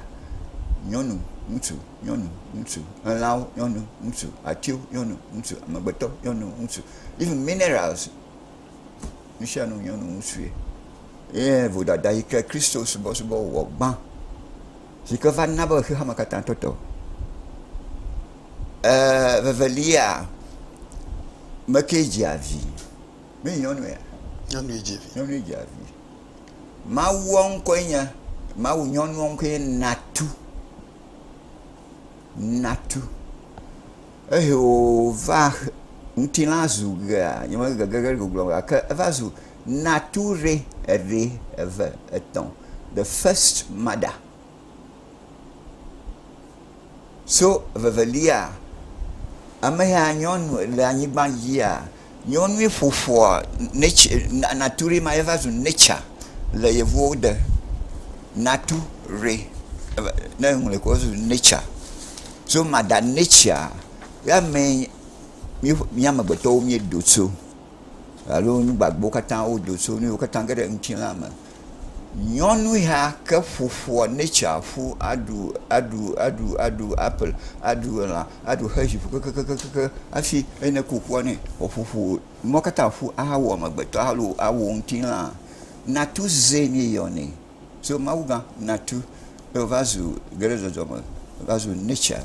nyɔnu, ŋutsu, nyɔnu, ŋutsu, elãwo, nyɔnu, ŋutsu, atiwo, nyɔnu, ŋutsu, amegbetɔ, nyɔnu, ŋutsu, even minerals. nusianu nyɔnu ŋutsue eye vodada yike Kristo subɔsubɔ wɔ gbã sike va na be xexeame katã tɔte eer vevelia meke dzia vi menye nyɔnuia? nyɔnue dzi vi nyɔnue dzia vi mawua ŋkɔe nye mawu nyɔnua ŋkɔe nye natu natu Ehe wòva ŋutilã zu ʋea, nyemege ge ɖe gbɔgblɔ o, gake eva zu nature, eɖe, eve, etɔ̃, the first mother. So evevelia, ame ya nyɔnu le anyigba dzia, Nyɔnui ƒoƒua nɛtse natu ɖee ma ye va zu nɛtsa le yevuwo de. Natu ɖee eva ne eŋlɔe kɔ ezu nɛtsa. So mada nɛtsa ye amee mí mía amegbetɔwo míeɖo tso alo nu gbagbewo katã woɖo tso nu yiwo katã ge ɖe ŋutilã me. Nyɔnu ya ke ƒoƒua nature ƒu aɖu aɖu aɖu aɖu apple aɖu elã aɖu xexi ƒu kekekekekekeŋ hafi ne kukua nɛ woƒoƒu nua katã ƒu ahawu amegbetɔ alo awu ŋutilã. Natu zee mie yɔnɛ. So mawuga natu ye va zu ge ɖe zɔzɔm me va zu nature.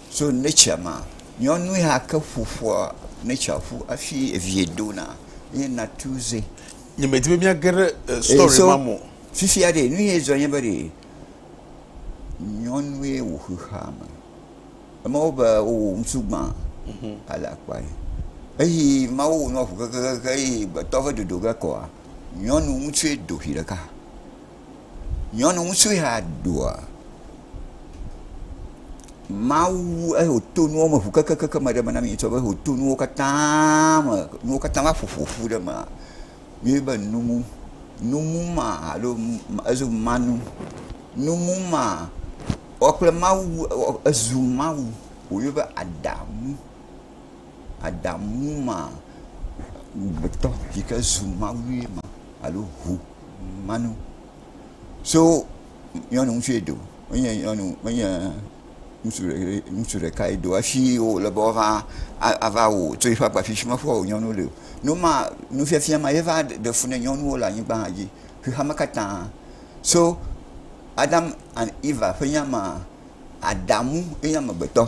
So nature ma nyɔnu ya ke ƒoƒua nature ƒu hafi evia dona ye natu zee. Nye me di be mia ge ɖe eh, story so, ma mo. Fifia ɖe, nu ye zɔ nye be ɖe, nyɔnu ye wò xexea me. Ema wo be wowò ŋutsu gbã, mhm. ale akpa ye. Eyi ma wowò nɔ ʋu kekekeke, eyi gbetɔ ve dodo ge kɔa, nyɔnu ŋutsu ye do ʋi ɖeka. Nyɔnu ŋutsu ya doa Mawu ŋu eye wòto nuwo me ŋu kekekeke me ɖe eme na mí ŋutɔ be wòto nuwo katã me, nuwo katã va ƒo ƒo ƒu ɖe eme. Míebe numu, numu ma alo ezo manu, numu ma wɔ kple Mawu wu ezu Mawu wòyɔ be Adamu. Adamu ma amegbetɔ yi ke zu mawue ma alo ŋu ma nu. So nyɔnu ŋutsua do menye nyɔnu menye ŋutsu ɖe ye ŋutsu ɖeka ye do hafi wo le be woava ava wɔ o tso eƒe agba fifi me ƒua wɔ nyɔnu li o. Nu ma nufiafia ma ye va ɖe fu na nyɔnuwo le anyigba hã dzi xexea me katã. So Adam and Eva ƒe nya ma Adamu ye nye amegbetɔ.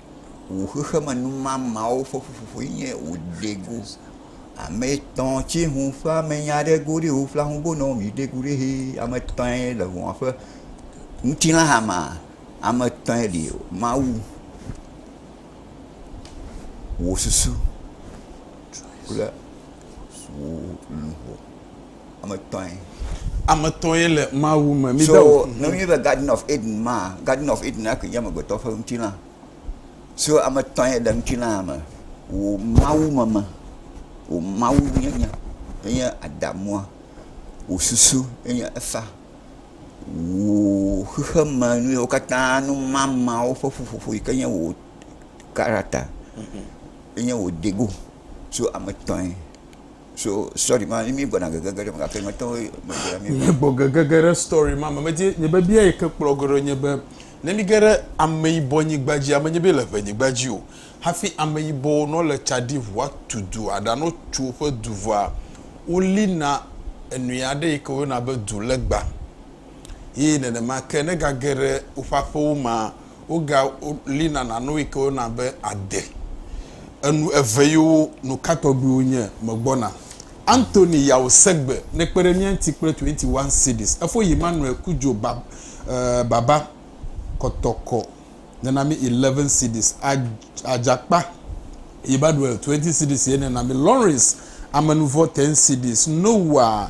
wò xexemenumamawo ƒe ƒuƒoƒoe nye wòdeŋu ame etɔ̃ tsi ŋu ƒe ame nya ɖe go ɖi ŋu ƒlaa ŋu bo nɔ mi ɖe go ɖi hi ame etɔ̃ ye le ŋua ƒe ŋutilã hama ame etɔ̃ ye li mawu wò susu kple wò luʋɔ Ame etɔ̃e. Ame etɔ̃e le Mawu me. Mi so ne wonye be Garden of Eden ma, Garden of Eden ake nye amegbetɔ ƒe ŋutilã. So ame etɔ̃e le ŋutilã me. Wò Mawu meme, wò Mawu nyenye enye Adamua, wò susu enye Efa, wò xexeme nu yewo katã numamawo ƒe ƒuƒoƒo yi ke nye wò character enye wò dego. So ame etɔ̃e. Míegbɔ gegege ɖe story ma me. Medi nye biabia yi ke kplɔ ge ɖo nye be, ne mí ge ɖe ameyibɔ nyigba dzi, ame nye be le ŋɛ nyigba dzi o, hafi ameyibɔwo ne wole tsa ɖi ŋu atu du aɖa ne wotso woƒe du vɔa, wo li na enui aɖe yi ke wo yɔna be du legba. eye nenema ke ne gage ɖe woƒe aƒewo mea, woga lina na nu yi ke wona be ade. Enu eve yiwo nu ka tɔgbiwo nye me gbɔna. Anthony Yaw Segbe ne kpe ɖe mía ŋuti kple 21 cedis. Efo yi Manuel Cudjoe ba, uh, Baba Kɔtɔkɔ ne na mi 11 cedis. Adzakpa yi Badwell 20 cedis ye ne na mi. Lawrence Amenuvɔ 10 cedis. Noah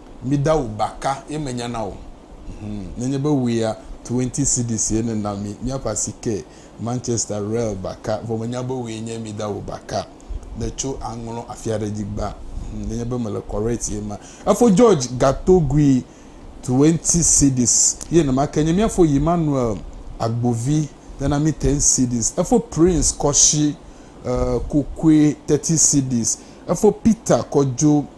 Mi da wu baka ye me nya na o hum nenye be wuia twenty cedis ye ne na mi mia ƒe asi ke Manchester real baka vɔ me nya be wue nye mi da wu baka ne tso a ŋlɔ afia ɖe dzi gba hum nenye be me le correct ye ma efo George gatogui twenty cedis ye ne ma ke nye mia fo Emmanuel agbovi ne na mi ten cedis efo Prince kɔshi uh, kokue thirty cedis efo Peter kɔdzo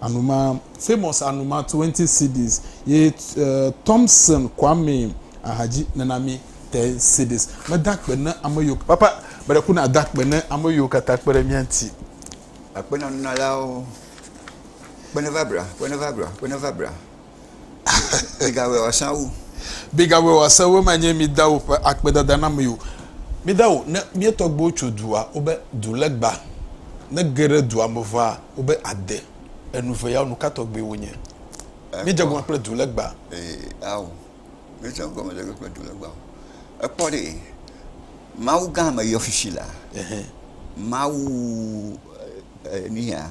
Anuma, famous Anuma 20 cds ye Thompson Kwame Ahadzi nana mi 10 cds. Meda akpe ne ame yiwo, papa, meɖe ku nada akpe ne ame yiwo katã kpe ɖe mía ŋuti. Akpe na nunɔlawo. Kpe neva bla, kpe neva bla, kpe neva bla. Migawɛ wòasã wu. Migawɛ wòasã wu ema nye mi dawo ƒe akpedada na mi o. Mi dawo, ne mía tɔgbuiwo tso dua, wobe, du legba, ne ge ɖe dua me ʋãa, wobe, ade. Enu ve yawo, nu ka tɔgbi wonye? Míedze gɔme kple du legba. Ee, ao, míedze gɔme ɖe kple du legba. Ekpɔ ɖe, Mawu gã me yɔshishi la, Mawu, e, e, nuya,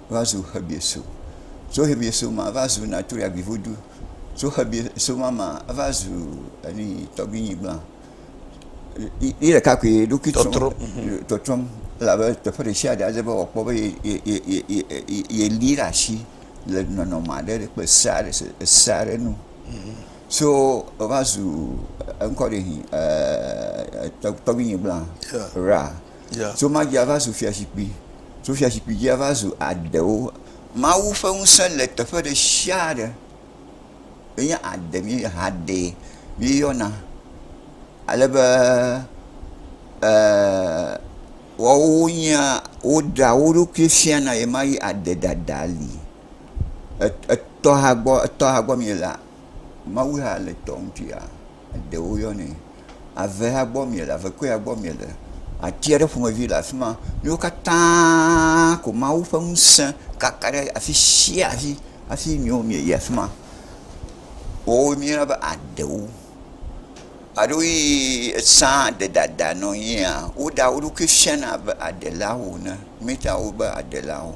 va zu Xebieso, tso Xebieso ma va zu Natriagivudu, tso Xebieso ma ma va zu enui tɔgbuinyigblã. Yi ɖeka koe ye ɖokui trɔm, tɔtrɔm elabe teƒe ɖe sia ɖe ade be wòakpɔ be yeli ɖe asi le nɔnɔme aɖe le kple se aɖe se ese aɖe nu. So eva zu eŋkɔ ɖe tɔgbuinyigblã Ra. Tso ma dzi ava zu fiazikpui, tso fiazikpui dzi ava zu adewo. Mawu ƒe ŋusẽ le teƒe ɖe sia ɖe. Enye ade mi ha dee mi yɔna ale be e woawo nye woɖea wo ɖokui fia na ye ma ye ade ɖaɖa li. Etɔha gbɔ etɔha gbɔ mi le la, Mawu ya le tɔ ŋuti ya. Ɖewo yɔnɛ avea gbɔ miele, avekɔea gbɔ miele. Ati aɖe ƒomevi le afi ma. Wo katã ko Mawu ƒe ŋusẽ kaka ɖe afi sia afi hafi mi wo mieyi afi ma. Woawo míeyɔna be aɖewo. Aɖewoe esã ɖe ɖaɖa nɔ anyia, woɖea wo ɖokui fiana abe aɖelawo ene. Míeɖea wo be aɖelawo.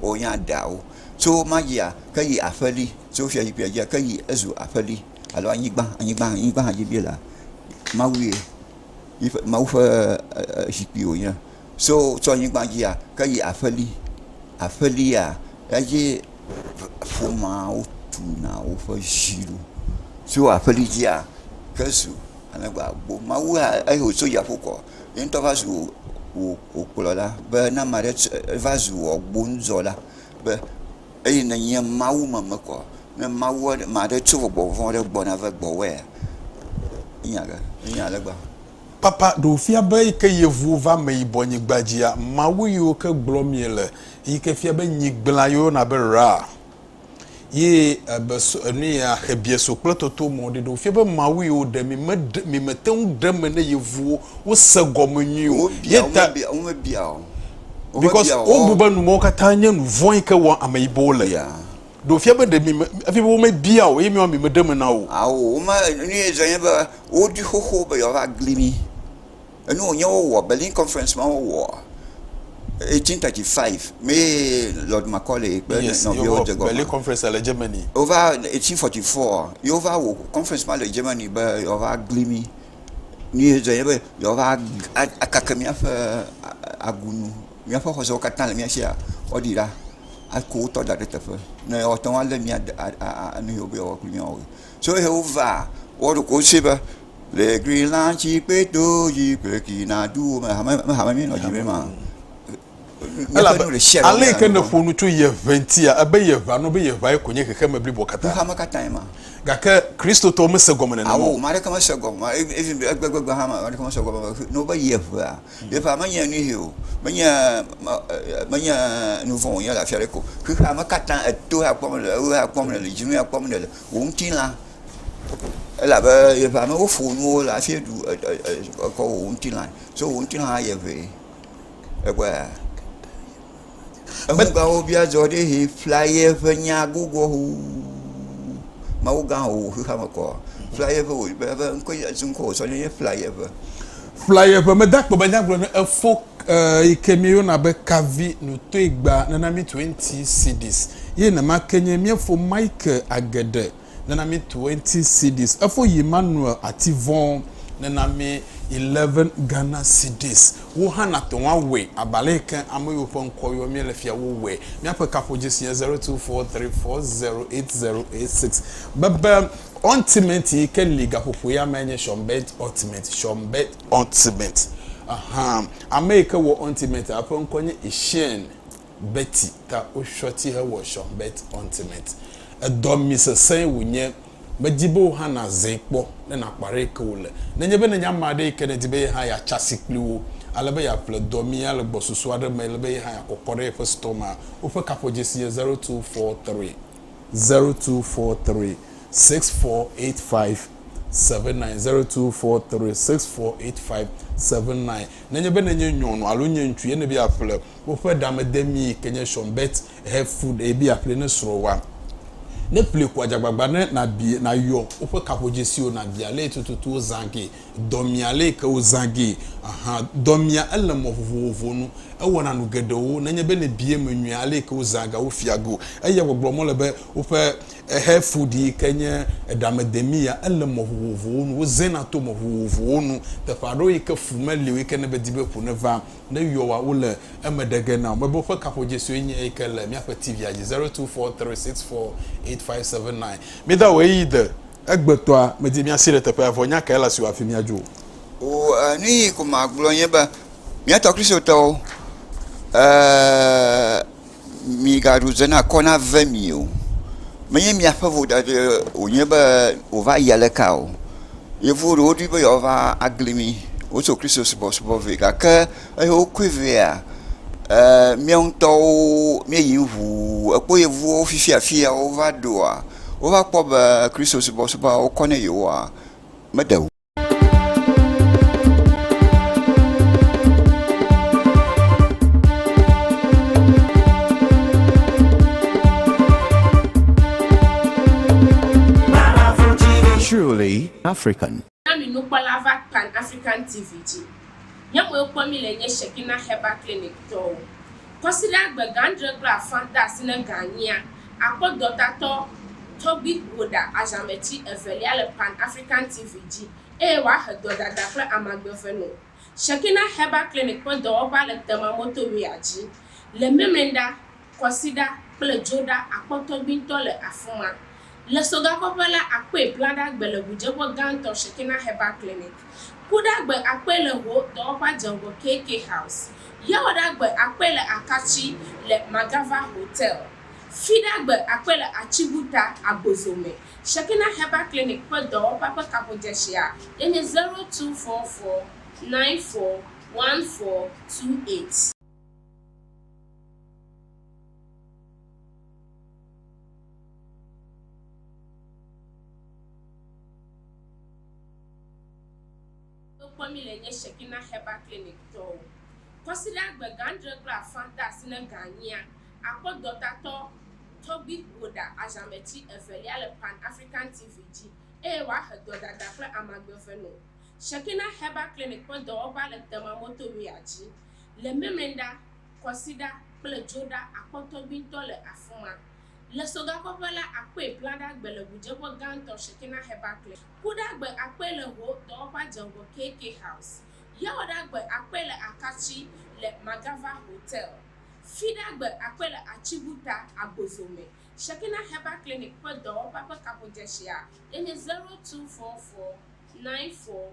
wo nya ɖa wo tso ma dzia ke yi aƒeli tso fia zi fia dzia ke yi ezu aƒeli alo anyigba anyigba anyigba hã dzi bi la mawu ye yiƒe mawu ƒe zikpui wo nye so tso anyigba dzia ke yi aƒeli aƒelia edzi ƒomawo tuna woƒe zi ɖo tso aƒeli dzia ke zu ale gbegbe mawu ya eye wotso dziaƒo kɔ yeŋtɔ va zu wò ŋukplɔla be ne ame aɖe tse va zu wò agbonuzɔla be eye nènye mawumemekɔ ne mawu aɖe ame aɖe tso gbɔgbɔ vɔ̃ aɖe gbɔ na va gbɔwòa nunya ɖe nunya ale gbegbe. Papa, ɖe wòfia be yi ke yevuwo va ameyibɔnyigba dzia, mawu yiwo ke gblɔm miele yi ke fia be nyigblẽa yeyɔna be Ra? Ye ebe so enu ya xe biɛ so kple toto mɔ ɖe ɖewo fia be Mawu yi wo ɖe mi me ɖe mi me te ŋu ɖe me ne yevuwo wo se gɔme nyui o. Ye ta. Wo me bia o. Because wo bu be nu mɔ kata nye nu vɔn yi ke wɔ ame yi bɔ wo le. Yeah. Ɖo fia be ɖe mi me efi be wo me bia o ye mi wa mi me ɖe me na wo. Awo wo me enu ye zɔ nye be wo ɖi xoxo be yɔ va gli mi. Enu wònye wowɔ Berlin conference ma wowɔ eighteen thirty five mee Lord Macaulay kple nɔviwo dze gɔme. Berlin conference le Germany. Wova eighteen forty four ye wova wɔ conference ma le Germany be yewoava gli mi. Nu ye dzɔ ye be yewoava akeke míaƒe agunu míaƒe xɔsewo katã le mía sia woaɖi ɖa aku wotɔ da ɖe teƒe ne woate ŋu alé mía de a a a nu yewo be yewoawɔ kple mía wɔwɔe. Tsɔ ye wo va wɔ ɖo ko se be le gli la ŋuti kpe do dzi kple ki na du wo me hame me hame mi nɔ dzi be ma. Elabe ale yi ke nèƒo nu tso yeʋe ŋutia, ebe yeʋea nɔ be yeʋae ko nye xexeme bliboa katã. Xexeame katãe ma. Gake Kristotɔwo mese gɔme nenema o. Ao, ame aɖeke mese gɔme, even egbegbe hã ame aɖeke mese gɔme be nɔ be yeʋea. Yeʋea menye nuyi o, menye menye nuvɔ̃ wònye le afi aɖeke o. Xexeame katã eto ya kpɔm nèle, ewuɣi ya kpɔm nèle, dzinu ya kpɔm nèle. wò ŋutilã elabe yeƒe amewo fɔ nuwo le hafi ɖu ekɔ wò ŋutilã so wò ŋutilã hã yie ŋee. Ekpɔe aa eŋugãwo bi adzɔ ɖi yi ƒlea yeƒe nya gbogboa ŋu mawugã wò xexeame kɔ ƒlea yeƒe wò be ŋkɔe nye esi ŋkɔ wòsɔ na ye ƒlea yeƒe. Ƒlaye ƒe medakpɔ be nyagblɔ ne efo e yi ke mieyona be kavi no toe gba nana mi twenty cedis ye nema ke nye miefo Michael Agede nana mi twenty cedis efo yi Manuel Ativon nana mi eleven Ghana cedis wo hã na tɔŋ awɔe abale yi ke ame yiwo ƒe ŋkɔ yɔ mi le fia wo wɔe miaƒe kaƒo dzesi nye zero two four three four zero eight zero eight six bebe Ointment yi ke li gaƒoƒo ya me nye shɔnbet ointment, shɔnbet ointment. Ahan, ame yi ke wɔ ointment a ƒe ŋkɔ nye Isheen Betty ta woshɔ ti hewɔ shɔnbet ointment. Edɔ mi sesẽe wònye. Medi be wò hã nàzãe kpɔ ne nàkpɔ aɖe yi ke wòle. Nenye be nènye ame aɖe yi ke nèdi be ye hã yeatsa asi kpli wo ale be yeaƒle dɔ mi ale gbɔ susu aɖe me le be ye hã yeakɔkɔ ɖe yeƒe store mea, woƒe kaƒodzesi nye zero two four three. zero two four three six four eight five seven nine zero two four three six four eight five seven nine. Nenye be nenye nyɔnu alo nye ŋutsu ye ne be yeaƒle woƒe ɖamedemi yi ke nye Sean Bet Health Food eye be yeaƒlee ne srɔ̃wòa, ne ƒlee ko adze agbagba ne nàbia nayɔ woƒe kaƒodzesiwo nàbia ale tututu wozã kee Dɔmea le yike wo zã gee ahan dɔmea ele mɔ vovovowo nu ewɔna nu geɖewo nenye be ne bia eme nyuie ale yike wo zã ga wo fia go eya gbe gblɔ mɔ le be woƒe ehe food yike nye eɖa me demi ya ele mɔ vovovowo nu wo zɛ na to mɔ vovovowo nu teƒe aɖewo yike fu me lio yike ne be di be ƒu ne va ne yɔ wa wole eme ɖe ge nao me be woƒe kaƒo dzesu ye nye yike le miaƒe TV a dzi zero two four three six four eight five seven nine mi da wo eyi de. Egbetɔa, medi míasi ɖe teƒea, vɔ nya kae le asi wò hafi míadzo o? O, e, nu yi ko magblɔ nye be, mía tɔ Kristotɔwo, e, migaɖu ze na kɔ nave mi o. Menye miaƒe vodada wònye be wòva yi aleka o. Yevuwo ɖewo ɖoe be yewoava agli mi, wotso Kristosubɔsubɔ vɛ, gake, Eye wokɔe vɛa, eee míawo ŋutɔwo míeyi ŋu ekpɔ yevuwo fifi afi ya wova ɖoa, wova kpɔ be Kristo subɔsubɔa wokɔ ne yewoa, meɖe ŋu o. Truly African. Na mi nukpɔla va Pan African TV dzi. Nye mue kpɔ mi le nye Shekinah Herbal Clinic tɔwo. Kɔsiɖa gbe gã adre kple afã de asi ne ga nyia, akpɔ dɔtatɔ tɔgbi ƒoɖa azãmeti evelia le Pan African TV dzi eye wòahe dɔdada kple amagbeve no. Shekinah Herbal Clinic ƒe dɔwɔƒea le Tema Motorway-a dzi le Memenda Kwasiɖa kple dzoɖa akpɔ tɔgbuitɔ le afi ma. Le sogakɔƒe la, akpɔe blaɖagbe le ʋudzeƒe gãtɔ Shekinah Herbal Clinic. Kuɖagbe akpɔe le ho dɔwɔƒea dze ŋgɔ KK House. Yawɔɖagbe akpɔe le Akatsi le Magava Hotel. Fiɖagbe akpɔe le Atsibuta, Agbozo me. Shekinah Herbal Clinic ƒe dɔwɔƒea ƒe kaƒodzɛsia ye nye zero two four four nine four one four two eight. kpɔ mí le nye Shekinah Herbal Clinic tɔwo. Kɔsiɖa gbe gã adre kple afã de asi ne ga nyia, akpɔ dɔtatɔ Toby Woda azãmetsi evelia le Pan African TV dzi eye wòahe dɔdada kple amagbe vɛ nɔ. Shekinah Herbal Clinic ƒe dɔwɔʋa le Tema Motorway-a dzi le Memenda Kwasiɖa kple dzoɖa akpɔtɔ gbĩtɔ le afi ma. Le sogakɔƒe la, akpɔe blaɖagbe le ʋudzeƒe gãtɔ Shekinah Herbal Clinic. Kuɖagbe akpɔe le ho dɔwɔƒea dze ŋgɔ KK House. Yawɔɖagbe akpɔe le Akatsi le Magava Hotel. Fiɖagbe akpɔe le Atsibuta, Agbozo me. Shekinah Herbal Clinic ƒe dɔwɔƒea ƒe kaƒodzeshia enye 0244 94